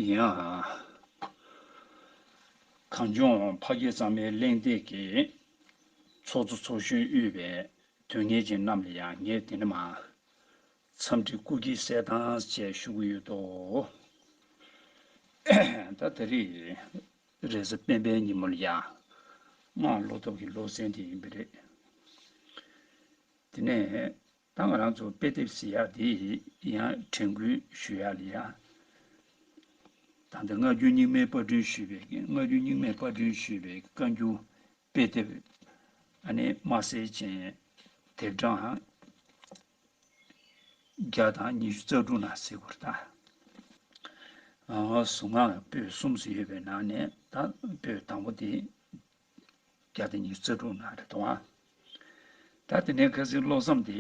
ཡིན་ཨང། གངས་ལྗོངས་ཕ་སྐད་གཙང་མའི་གླེང་སྟེགས་ཀྱི། ཚོགས་གཙོ་ཚོགས་གཞོན་དབུས་པའི་དོན་གཉེར་ཅན་རྣམས་ལ་ཡང་ངས་འདི་ནས་མ། འཚམས་འདྲི་སྐུ་སྐྱེ་གསལ་ཐང་བཅས་ཞུ་གི་ཡོད་དོ། ད་ད་རེས། རེས་གཟའ་སྤེན་པའི་ཉིན་མོ་ལ་ཡང། སྔགས་བློ་སྟོབས་ཀྱི་བློ་གསལ་འདི་ཡིན་པ་རེད། དེ་ནས། ད་ང་རང་ཚོ་དཔེ་དེབ་བཟི་ཡག་འདི་ཡང་དྲན་སྐུལ་ཞུ་ཡག་ལེ་ཡག། ད་ལྟ་སྔ་འགྱུར་རྙིང་མའི་པར་སྐྲུན་ཞུས་པའི་སྔ་འགྱུར་རྙིང་མའི་པར་སྐྲུན་ཞུས་པའི་བཀའ་འགྱུར་དཔེ་དེབ་ཨ་ནེ་དམའ་སེར་ཅན་དེབ་གྲངས་བརྒྱ་དང་ཉི་ཤུ་རྩ་དྲུག་ན་གཟིགས་པར་བལྟ། ང་ང་གཟུགས་སྔགས་པོད་གསུམ་སུ་ཡོད་པའི་ནང་ནས་ད་པོད་དང་པོ་དེ་བརྒྱ་དང་ཉི་ཚེ་དྲུག་ན་རེ་དང། ད་དེ་ནས་ཁ་སིའི་བློ་བསམ་དེ་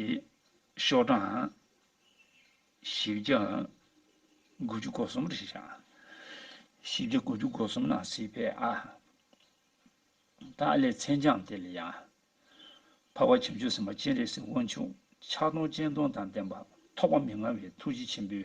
ཤོག་གྲངས་བཞི་བརྒྱ་དགུ་བཅུ་གོ་གསུམ་རེ་ཞིག་བཞག། བཞི་བརྒྱ་དགུ་བཅུ་གོ་གསུམ་ན་སྲིད་པས་ཨ། ད་ཨ་ལས་མཚན་བྱང་དེ་ལ་ཡང། འཕགས་པ་བྱང་ཆུབ་སེམས་དཔའ་སྤྱན་རས་གཟིགས་དབང་ཕྱུག་ཕྱག་སྟོང་སྤྱན་སྟོང་དང་ལྡན་པ་ཐོགས་པ་མི་མངའ་བའི་ཐུགས་རྗེ་ཆེན་པོའི།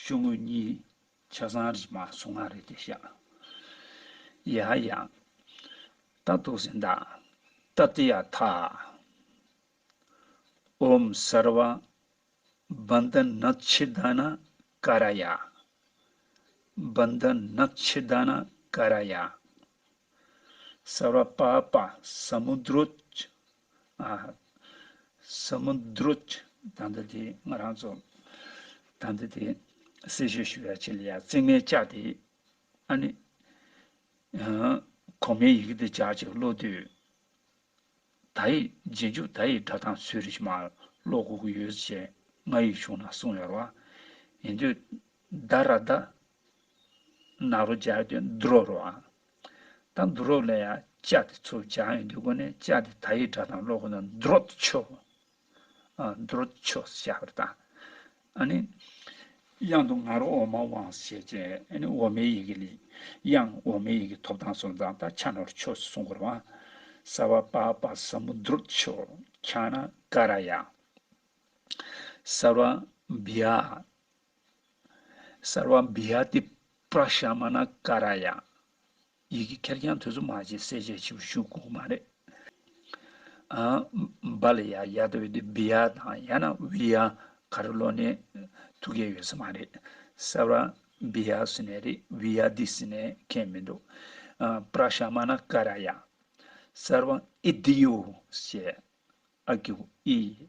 ཤོག་ངོས་གཉིས་ཆ་ཚང་རིས་མ་སོ་ང་རེད་དེ་བཞག་ཡ་ཡ། ད་དུག་ཟིན་ད་ད་དེ་ཡ་ཐ། ཨོམ་སར་བ། བན་དེ་ན་ཆི་ད་ན་ཀ་ར་ཡ། བན་དེ་ན་ཆི་ད་ན་ཀ་ར་ཡ། སར་བ་པ་པ་སམུ་དྲོ། སོར་མོ་འདྲུ། དང་འདི་དེ་ང་རང་ཚོ། དང་འདི་དེ། སྲི་ཞུ་ཞུ་བའི་ཆེད་ལས་ཡ་རྩེ་ངའི་ལྕགས་དེ། ཨ་ནི། གོང་མའི་ཡི་གེ་དེ་ལྕགས་ཅིག་ཀློག་དུས། ད་ཡིས་རྗེས་འཇུག་ད་ཡིས་སྒྲ་གདངས་ཚུལ་རིག་མ་ཀློག་གོ་གི་ཡོད་ཅེས་ང་ཡིས་ཞུ་ན་གསུངས་ཡོད་རོ། ཡིན་དུས། ད་ར་ད། ན་རོ་སྦྱར་དུས་འདྲོ་རོ། དང་འདུ་རོགས་ལ་ཡང་ལྕགས་དེ་ཚུར་སྦྱང་ཡོད་འདུག་གོ་ནས་ལྕགས་དེ་ད་ཡིག་དྲ་དང་ཀློག་གོ་ན་འདུ་རོགས་ཏུ་ཆོས། འདུ་རོགས་ཏུ་ཆོས་སུ་བྱ་བར་བཏང། ཨ་ནི། དབྱངས་དུ་ང་རོ་འོག་མ་དབང་ཞེས་བྱ། ཨ་ནི་འོག་མའི་ཡི་གེ་ལས། དབྱངས་འོག་མའི་ཡི་གེ་ཐོབ་དང་སོང་ཙང་ད་ཆ་ནོར་ཆོས་སུ་སོང་གོ་རང། ས་བ་པ་པ་ས་མུ་འདུ་རོགས་ཏུ་ཆོས། ཁྱང་ན་ཀ་ར་ཡ། ས་བ་བི་ཨ། སར་བ་འབི་ཡ་ཏི་པྲ་ཤ་མ་ན་ཀ་ར་ཡ། ཡི་གེ་ཁེར་རྐྱང་ཐོས་བསམ་མ་བྱས་གསལ་བྱེད་ཕྱི་བ་ཤུག་གོང་མ་རེད། འབའ་ལ་ཡ་ཡ་ཏོ་བི་ཏི་བི་ཡ་དང་ཡ་ན་བི་ཡ་ག་རི་ལོ་ནས་ཐུག་མཁན་ཡོད་ས་མ་རེད། སར་བ་འབི་ཡ་སི་ནས་རེད་བི་ཡ་ཏི་སི་ནས་མཁན་མི་འདུག་པྲ་ཤ་མ་ན་ཀ་ར་ཡ། སར་བ་ཨི་ཏི་ཡོ་ཞེས་ཨ་ཀི་ཨི།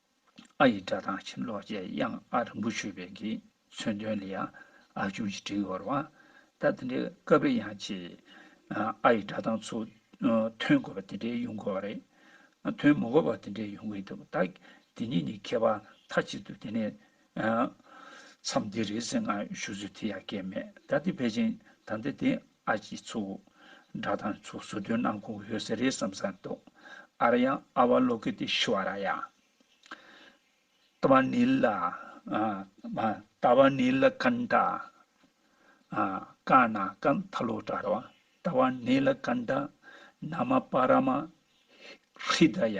ཨ་ཡི་སྒྲ་དང་ཁྱིམ་ལོག་བཅས་དབྱངས་ཨ་རིང་པོ་ཆོད་པའི་གི་མཚོན་དོན་ལ་ཡང་ཨ་ཁྱུང་ཞེས་བྲིས་འོར་བ། ད་དེ་འདྲའི་སྐབས་རེ་ཡང་ཆེས་ཨ་ཡི་སྒྲ་དང་ཚུལ་མཐུན་དགོས་པ་དེ་འདྲའི་ཡོང་དགོས་པ་རེད། མཐུན་མི་དགོས་པ་དེ་འདྲའི་ཡོང་གི་འདུག་ད་དེ་གཉིས་ནི་ཁྱད་པར་མཐའ་གཅིག་ཏུ་དེ་ནས་མཚམས་འདི་རེད་ཟེར་ང་ཞུ་ཚུལ་དེ་ཡང་སྐད་མེད་ད་དེ་ཕལ་ཆེན་ད་འདི་དེ་ཨ་ཅིའི་ཚུགས། སྒྲ་དང་ཚུགས་ཟུར་དོན་ནང་ཁུངས་ཡོད་ས་རེད་བསམ་ས་འདུག་ཨ་ར་ཡང་ཨ་བ་ལོ་ཀི་དེ་ཤི་བ་ར་ཡང། ཏཱ་བ་ནི་ལ། ཏཱ་བ་ནི་ལ་ཀན་ཏཱ། ཀན་ན་ཀན་ཐ་ལོ་ཏྲ་ར་བ་ཏཱ་བ་ནི་ལ་ཀན་ཏཱ། ན་མ་པ་ར་མ། ཧྲི་ད་ཡ།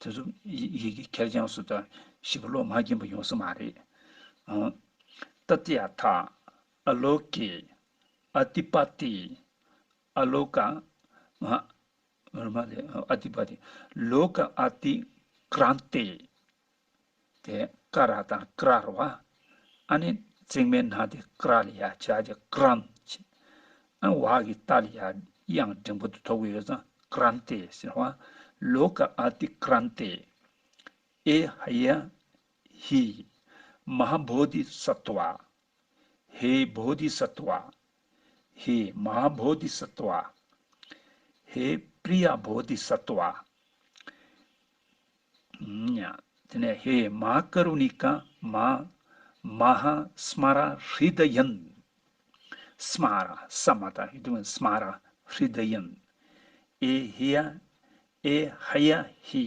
དེ་ཚོ་ཡི་གེ་ཁེར་རྐྱང་སུ་དང་ཞིབ་པོ་ཀློག་མ་གྱིན་པ་ཡོང་ས་མ་རེད་ཨང། ཏཱ་ཏི་ཨ་ཐ། ཨ་ལོ་ཀེ། ཨ་ཏི་པ་ཏི། ཨ་ལོ་ཀ། ཨ་ཏི་པ་ཏི། ལོ་ཀ་ཨ་ཏི། ཀྲན་ཏེ། དེ་ཀ་ར་དང་ཀ་རར་བ། ཨ་ནི་བརྩེགས་མའི་ནང་དེ་ཀ་ར་ལ་ཡ་བྱ་རྒྱ་ཀ་རམ་བྱེད། ཨན་བ་གི་རྟ་ལ་ཡ་དབྱངས་འབྲིང་པོ་དེ་ཐོབ་གི་ཡོད་ཙང་ཀ་རམ་ཏེ་ཟེར་བ། ལོ་ཀ་ཨ་ཏི་ཀ་རམ་ཏེ། ཨེ་ཧ་ཡ་ཧི། མ་ཧ་བྷོ་དྷི་སཱ་ཏུ་བ། ཧེ་བོ་དྷི་སཱ་ཏུ་བ། ཧེ་མ་ཧཱ་བོ་དྷི་སཱ་ཏུ་བ། ཧེ་པྲི་ཡ་བོ་དྷི་སཱ་ཏུ་བ། དེ་ནས་ཧེ་མ་ཧཱ་ཀ་རུ་ནི་ཀ་མ་མ་ཧཱ་སྨ་ར་ཧྲི་དྷ་ཡན། སྨ་ར་ས་མ་ཏཱ་ཧི་དྷི་ཝན་སྨ་ར་ཧྲི་དྷ་ཡན། ཨེ་ཧི་ཡ་ཨེ་ཧ་ཡ་ཧི།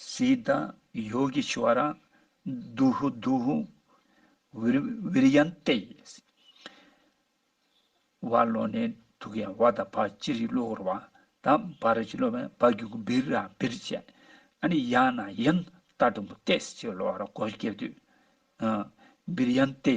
གསི་ད་ཡོ་གི་ཆུ་བ་ར། དུ་ཧུ་དུ་ཧུ། བི་རི་ཡན་ཏེ། བ་ལོ་ནེ་དུ་ཀ་ཡན་བ་དང་བ་ཅི་རི་ལོ་ཧུར་བ་དང་བ་ར་ཅི་ལོ་བན་བ་གུ་གུ་བི་ར་བི་རི་ཅན་ཨ་ནི་ཡ་ན་ཡན་ཏ་དུ་མུ་ཏེ་སི་ཅི་ལོ་ཧ་ར་གོ་ཤི་ཀེ་དུ། བི་རི་ཡན་ཏེ།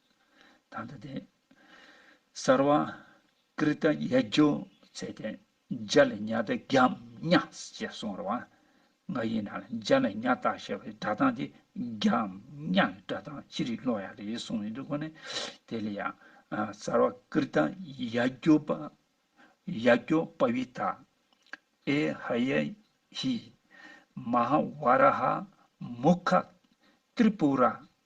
དང་ཐ་དད། སར་བ། ཀིར་ཏ་ཡ་སྒྱུ་རྩལ་ཏེ། འཇའ་ལ་ཉྭ་ཏི་རྒྱམ་ཉྭ་ཞེས་གསུང་བར་བ། ང་ཡི་ན་ལ་འཇའ་ལ་ཉྭ་ཏག་ཞེས་པའི་སྒྲ་གདངས་དེ་རྒྱམ་ཉྭ་ཡི་སྒྲ་གདངས་ཅི་རིགས་ཀློག་ཡ་རེད་གསུངས་ཡོད་འདུག་གོ་ནི། དེ་ལ་ཡང། སར་བ་ཀིར་ཏ་ཡ་སྒྱུ་པ། ཡ་སྒྱུ་པ་བི་ཏཱ། ཨེ་ཧ་ཡ་ཧི། མ་ཧཱ་བཱ་ར་ཧ། མུ་ཁ། ཏྲི་པུ་ར།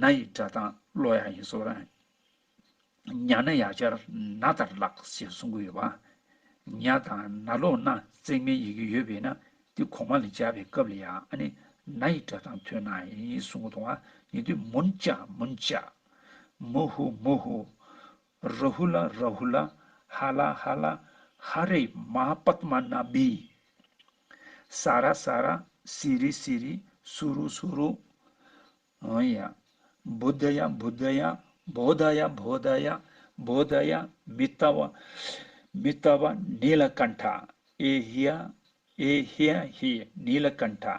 ན་ཡི་སྒྲ་དང་བློ་ཡང་ཡིན་གསུང་རན། ཉག་ན་ཡག་ཆར་ན་ལྟར་ལགས་ཞེས་གསུང་གི་ཡོད་པ། ཉག་དང་ན་ལོགས་ན་བརྩེགས་མའི་ཡི་གེ་ཡོད་པས་ན་དེ་གོང་མ་ལ་སྦྱར་བའི་སྐབས་ལ་ཡང་ན་ཡི་སྒྲ་དང་མཐུན་ན་ཡིན་གསུང་གི་མཐོང་བ་ཡིན་དུས་མུན་ལྕགས་མུན་ལྕགས། མུ་ཧུ་མུ་ཧུ། རཱ་ཧུ་ལ་རཱ་ཧུ་ལ། ཧ་ལ་ཧ་ལ། ཧ་རེ་མ་པདྨ་ན་བྷི། ས་ར་ས་ར། སི་རི་སི་རི། སུ་རུ་སུ་རུ། ཨཱ་ཡ། བུ་དྷ་ཡ་བུ་དྷ་ཡ། བོ་དྷ་ཡ་བོ་དྷ་ཡ། བོ་དྷ་ཡ། མི་ལྟ་བ། མི་ལྟ་བ། ནི་ལ་ཀཱནྟྷ། ཨེ་ཧི་ཡ། ཨེ་ཧི་ཡ་ཧི། ནི་ལ་ཀཱནྟྷ།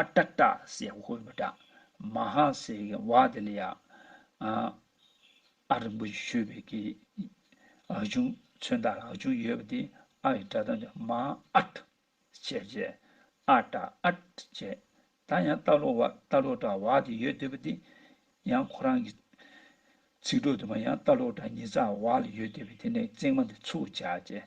ཨ་ཏྲ་ཏྲ་སེ་ཧུ་བ་ཏྲ་མ་ཧ་སེ་གི་བ་དེ་ལ་ཡ། ཨ་རིན་པོ་ཆེ་ཤོད་པའི་གི་ཨ་ཆུང་མཚོན་རྟགས་ལ་ཨ་ཆུང་ཡོད་པ་དེ་ཨ་ཡི་སྒྲ་གདངས་ཀྱང་མ་ཨཏ་བྱས་རྗེས་ཨ་ཏྲ་ཨཏ་བྱས། ད་ཡང་རྟ་ལོ་བ་རྟ་ལོ་ཏྲ་བ་དེ་ཡོད་སྡོད་པ་དེ་ཡང་ཁོ་རང་གི་ཚིག་གྲོགས་དུ་མ་ཡང་རྟ་ལོ་ཏྲ་ཉི་ཙག་བ་ལ་ཡོད་སྡོད་པས་དེ་ནས་ཚིག་མ་དེ་ཚུགས་བྱས་རྗེས་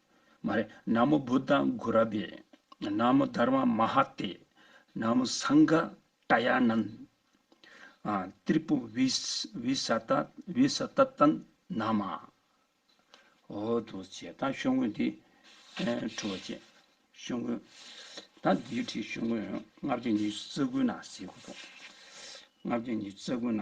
མ་རེད། ན་མོ་བུ་ད་གུ་ར་བེ། ན་མོ་དར་མ་མ་ཧ་ཏེ། ན་མོ་སངས་ག་ཏྲ་ཡ་ནན། ཏྲི་པུ་བི་བི་ས་ཏ་བི་ས་ཏ་ཏན་ན་མ། ཧོ་དུ་བྱེད་ད་ཤོ་ངོས་འདི་ཁྲུ་བ་བྱེད། ཤོ་ངོས་ད་འདི་ཁྲི་ཤོ་ངོས་ལྔ་བརྒྱ་ཉི་ཤུ་རྩ་དགུ་ན་ཟེ་གུ་དོ། ལྔ་བརྒྱ་ཉི་ཤུ་རྩ་དགུ་ན།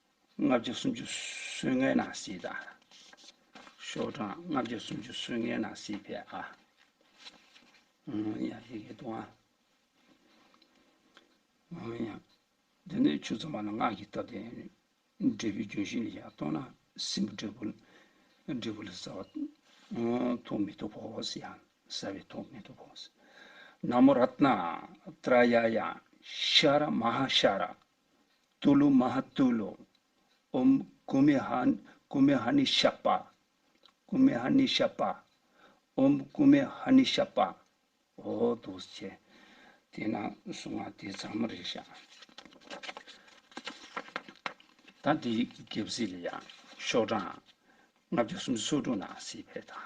ལྔ་བརྒྱ་སུམ་ཅུ་སོན་ལྔའི་ནང་གསེས་དང། ཤོག་གྲངས་ལྔ་བརྒྱ་སུམ་ཅུ་སོན་ལྔའི་ནང་གསེས་བས་ཨ། ཡང་ཡི་གེ་དུ་ཨ། འདི་ནི་ཆུ་ཚང་བ་ལ་སྔགས་ཀྱིས་བཏབ་སྟེ། འབྲས་བུའི་རྒྱུན་བཞིན་ལ་ཡང་གཏོང་ན་སྲིན་བུ་འབྲས་བུ་ལ་འབྲས་བུ་ལ་ཟ་བ། ཐུག་མེ་ཏུ་བོ་ཟེར་ཡང་ཟ་བའི་ཐུག་མེ་ཏུ་བོ། ན་མོ་རཏྣ་ཏྲ་ཡ་ཡ་ཤཱ་ར་མ་ཧཱ་ཤཱ་ར་ཏུ་ལུ་མ་ཧ་ཏུ་ལུ། ཨོམ་ཀུ་མི་ཧ། ཀུ་མི་ཧ་ནི་ཤ་པ། ཀུ་མི་ཧ་ནི་ཤ་པ། ཨོམ་ཀུ་མི་ཧ་ནི་ཤ་པ། ཧོ་དུ་བྱེ། དེས་ན་གཟུངས་སྔགས་འདི་ཚང་མ་རེ་བྱ། ད་འདི་ཡི་གེ་བརྒྱད་བཟི་ལ་ཡང་ཤོག་གྲངས། ལྔ་བརྒྱ་སུམ་ཅུ་སོ་དྲུག་ན་སྲིད་པའི་དང།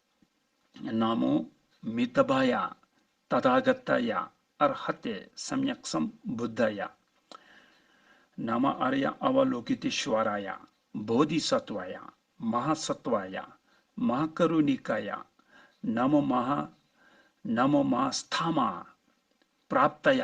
ན་མོ་མི་ཏཱ་བ་ཡ། ཏ་ཐ་ག་ཏ་ཡ། ཨ་ར་ཧ་ཏེ་སམ་ཡག་སམ་བུ་དཱ་ཡ། ན་མ་ཨ་ར་ཡ་ཨ་བ་ལོ་ཀི་ཏི་ཤུ་བ་ར་ཡ། བོ་དྷི་ས་ཏུ་བ་ཡ། མ་ཧ་ས་ཏུ་བ་ཡ། མ་ཧ་ཀ་རུ་ནི་ཀ་ཡ། ན་མོ་མ་ཧ། ན་མོ་མ་ཧ་སཐ་མ། པྲ་བཏ་ཡ།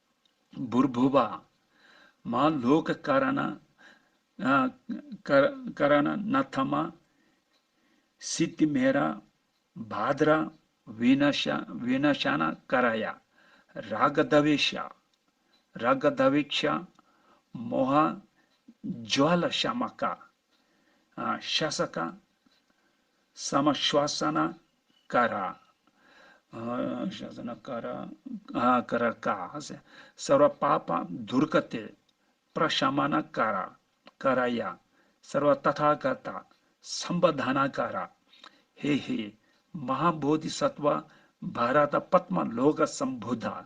འབུར་འབུད་པ། མ་ལུག་གི་ཀ་ར་ན། ཀ་ར་ན་ན་དྷ་མ། སི་ཏི་མེ་ར། བཱ་དྷ་ར། བི་ན་ཤ་བི་ན་ཤ་ན་ཀ་ར་ཡ། ར་ག་དྷ་བི་ཤ། ར་ག་དྷ་བི་ཤ། མོ་ཧ། ཇཱ་ལ་ཤ་མ་ཀ། ཤཱ་ས་ཀ། ས་མ་ཤཱ་ས་ན་ཀ་ར། ཤཱ་ས་ན་ཀ་ར། ཀ་ར་ཀ། སར་བ་པ་པ་དུར་ཀ་ཏི། པྲ་ཤཱ་མ་ན་ཀ་ར། ཀ་ར་ཡ། སར་བ་ཏཱ་ཐཱ་ག་ཏཱ། སམ་བ་དྷ་ན་ཀ་ར། ཧེ་ཧེ། མ་ཧཱ་བོ་དྷི་སཱ་ཏཝ། བྷ་ར་ཏཱ་པདྨ་ལོ་ཀ་སམ་བྷུ་དྷ།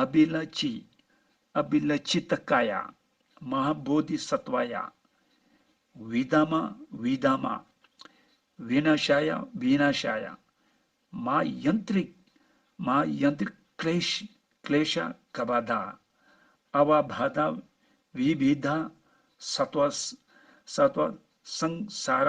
ཨ་བི་ལ་ཅི། ཨ་བི་ལ་ཅི་ཏཱ་ཀ་ཡ། མ་ཧཱ་བོ་དྷི་སྭ་ཏཝ་ཡ། བི་དྷ་མ། བི་དྷ་མ། བི་ན་ཤ་ཡ། བི་ན་ཤ་ཡ། མ་ཡན་ཏྲི། མ་ཡན་ཏྲི་ཀླེ་ཤི། ཀླེ་ཤ་ཀ་བ་དྷ། ཨ་བ་བྷ་དྷ། བི་བི་དྷ། སྭ་ཏཝ། སྭ་ཏཝ། སངས་ས་ར།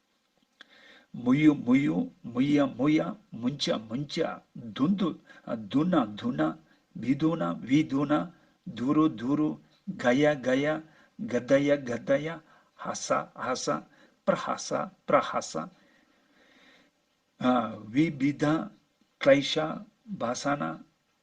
མུ་ཡུ་མུ་ཡུ་མུ་ཡ་མུ་ཡ་མུན་ཅ་མུན་ཅ་དུ་མདུ་དུ་ན་དུ་ན་བི་དུ་ན་བི་དུ་ན་དུ་རུ་དུ་རུ་ག་ཡ་ག་ཡ་ག་ད་ཡ་ག་ད་ཡ་ཧ་ས་ཧ་ས་པྲ་ཧ་ས་པྲ་ཧ་ས་བི་བི་དཱ་ཀླཱི་ཤ་བྷ་ས་ན་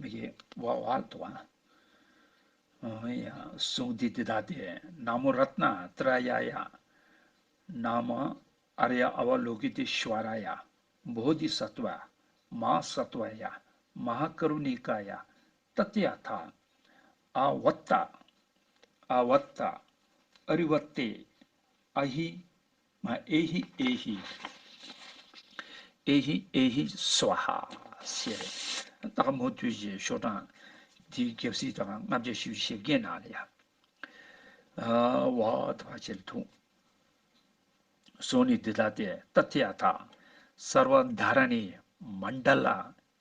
མི་ཡི་དབང་བ་ལ་དུ་བ། ཡང་གཟུངས་འདི་འདི་དག་སྟེ། ན་མོ་རཏྣ་ཏྲ་ཡ་ཡ། ན་མ་ཨ་རི་ཡ་ཨ་བ་ལོ་ཀི་ཏི་ཤི་བ་ར་ཡ། བྷོ་དྷི་སྭ་ཏུ་ཨ། མ་ཧ་སྭ་ཏུ་ཨ་ཡ། མ་ཧ་ཀ་རུ་ནི་ཀ་ཡ། ཏཱ་ཏི་ཡ་ཐ། ཨ་བྷ་ཏ། ཨ་བྷ་ཏ། ཨ་རི་བ་ཏེ། ཨ་ཧི། ང་ཨེ་ཧི་ཨེ་ཧི། ཨེ་ཧི་ཨེ་ཧི་སུ་བ་ཧ། ཞེས་སྟག་མོ་དུས་ཀྱི་ཤོག་གྲངས་དེའི་རྒྱབ་སྲིད་དུའང་ལྔ་བརྒྱ་ཞེ་བཞི་ཞེ་བརྒྱད་ནང་ལ་ཡང། བ་དང་བ་ཕྱེད་ལ་ཐུག། སོགས་ནི་འདི་ལྟ་སྟེ་ཏཱ་ཐི་ཡ་དག། སར་བ་མནྡ་ར་ནི་མནྡ་ལ།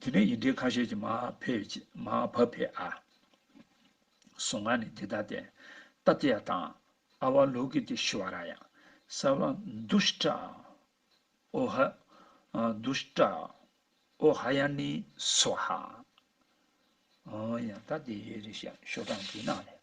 དེ་ནས་ཡིན་འབྲེལ་ཁ་ཤས་ཀྱིས་མ་བབ་བས་ཨ། སོ་ང་ནི་འདི་ལྟ་སྟེ། ཏཱ་ཏི་ཡ་དང། ཨ་བ་ལོ་ཀི་ཏི་ཤི་བ་ར་ཡ། སཱ་བ། དུ་ཤི་ཏྲ། ཨོ་ཧ། དུ་ཤི་ཏྲ། ཨོ་ཧ་ཡ་ནི་སོ་ཧ། ཨོ་ཡ། ཏཱ་ཏི་ཡའི་རི་ཤོ་ཀྲང་གི་ནང་ནས།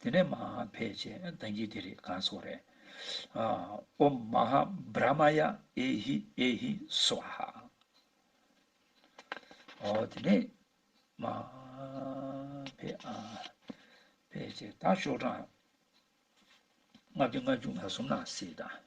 དེ་ནས་མ་ཧཱ་བྷེ་ཅེས་བཏགས་རྒྱུ་དེ་རེད་ག་སོགས་རེད། ཨོམ་མ་ཧཱ་བྷྲ་མ་ཡ་ཨེ་ཧི་ཨེ་ཧི་སུཝཱ་ཧ། ཨོ་དེ་ནས་མ་ཧཱ་བྷེ་ཨ་བྷེ་ཅེས་བཏགས་ཤོག་གྲངས་ལྔ་བཅུ་ལྔ་བཅུ་ང་གསུམ་ན་སྲིད་དང།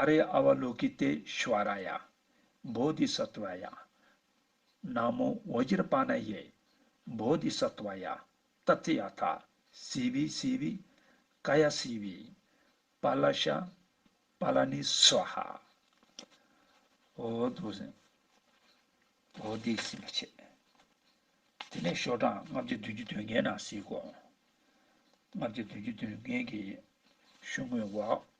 ཨ་རེ་ཨ་བ་ལོ་ཀི་ཏེ་ཤི་བ་ར་ཡ། བོ་དྷི་ས་ཏུ་བ་ཡ། ན་མོ་བོ་ཇི་ར་པཱ་ན་ཡེ། བོ་དྷི་ས་ཏུ་བ་ཡ། ཏཱ་ཙི་ཡ་ཐཱ། སི་བྷི་སི་བྷི། ཀ་ཡ་སི་བྷི། པཱ་ལ་ཤ། པཱ་ལ་ནི་སི་བ་ཧ། བོ་དྷུ་སི། བོ་དྷི་སི་མ་ཆེ། དེ་ནས་ཤོ་དྲང་ལྔ་བརྒྱ་བདུན་ཅུ་དོན་ལྔའི་ནང་གསེས་གོ། ལྔ་བརྒྱ་བདུན་ཅུ་དོན་ལྔའི་གཞུང་དངོས་བ།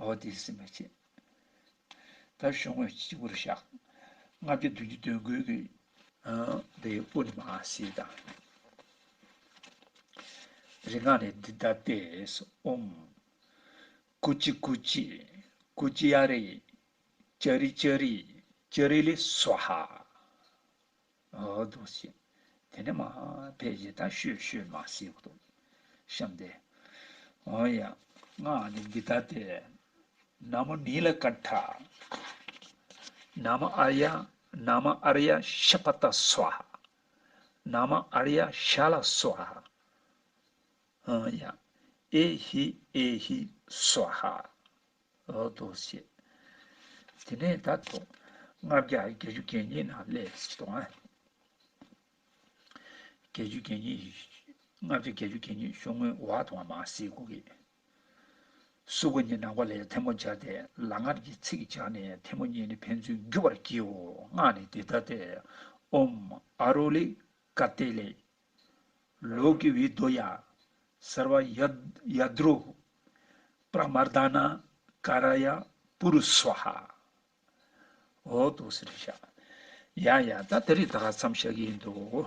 འོ་དེ་སེམས་མ་བྱེད། ད་ཞོག་ངོས་སྤྱི་བོར་བཞག། ལྔ་བརྒྱ་བདུན་ཅུ་བདུན་བསྐུལ་གྱི། དེ་སྤུ་ནི་མ་བསིལ་དང། རིག་སྔགས་ནི་འདི་ལྟ་སྟེ། ཨོྃ། ཀུ་ཅི་ཀུ་ཅི། ཀུ་ཅི་ཡ་རེ། ཅཱ་རི་ཅཱ་རི། ཅཱ་རི་ལི་སཝཱ་ཧཱ། འདུག་བཞིན། དེ་ནས་མ་དཔེ་ཡི་ད་ཤོད་ཤོད་མ་ཤེས་པ་འདུག་བཤམས་ཏེ། འོན་ཡང་སྔགས་ནི་འདི་ལྟ་སྟེ། ན་མོ་ནི་ལ་ཀ་ཏྲ། ན་མ་ཨར་ཡ་ན་མ་ཨར་ཡ་ཤ་པ་ཏ་སུ་ཧ། ན་མ་ཨར་ཡ་ཤ་ལ་སུ་ཧ། འོན་ཡང་ཨེ་ཧི་ཨེ་ཧི་སུ་ཧ། ལོག་ཏུ་བཤད། དེ་ནས་ད་དུང་ལྔ་བརྒྱ་བརྒྱད་ཅུ་གྱ་གཉིས་ན་ལས་བྱེད་དང། བརྒྱད་ཅུ་གྱ་གཉིས། ལྔ་བརྒྱ་བརྒྱད་ཅུ་གྱ་གཉིས་ཤོག་ངོས་བ་དང་མ་སྲིའི་སྒོ་གི། སུ་སྒོ་གཉིས་ནང་པ་ལས་ཐལ་མོ་སྦྱར་ཏེ་ལག་ངར་གྱི་ཚིག་སྦྱར་ནས་ཐལ་མོ་གཉིས་ནི་ཕན་ཚུན་རྒྱུ་བར་བགྱིའོ་སྔགས་ནི་འདི་ལྟ་སྟེ། ཨོམ་ཨ་རོ་ལི་ཀ་ཏེ་ལེ་ལོ་ཀི་བི་དོ་ཡ། སར་བ་ཡ་དྲོ། པྲ་མར་དཱ་ན་ཀ་ར་ཡ། པུ་རུ་སུ་ཧ། ཧོ་དོ་སི་རི་ཤ། ཡ་ཡ། ད་དེ་རིགས་ད་ག་ཙམ་བཤད་ཀྱི་ཡིན་འདུག།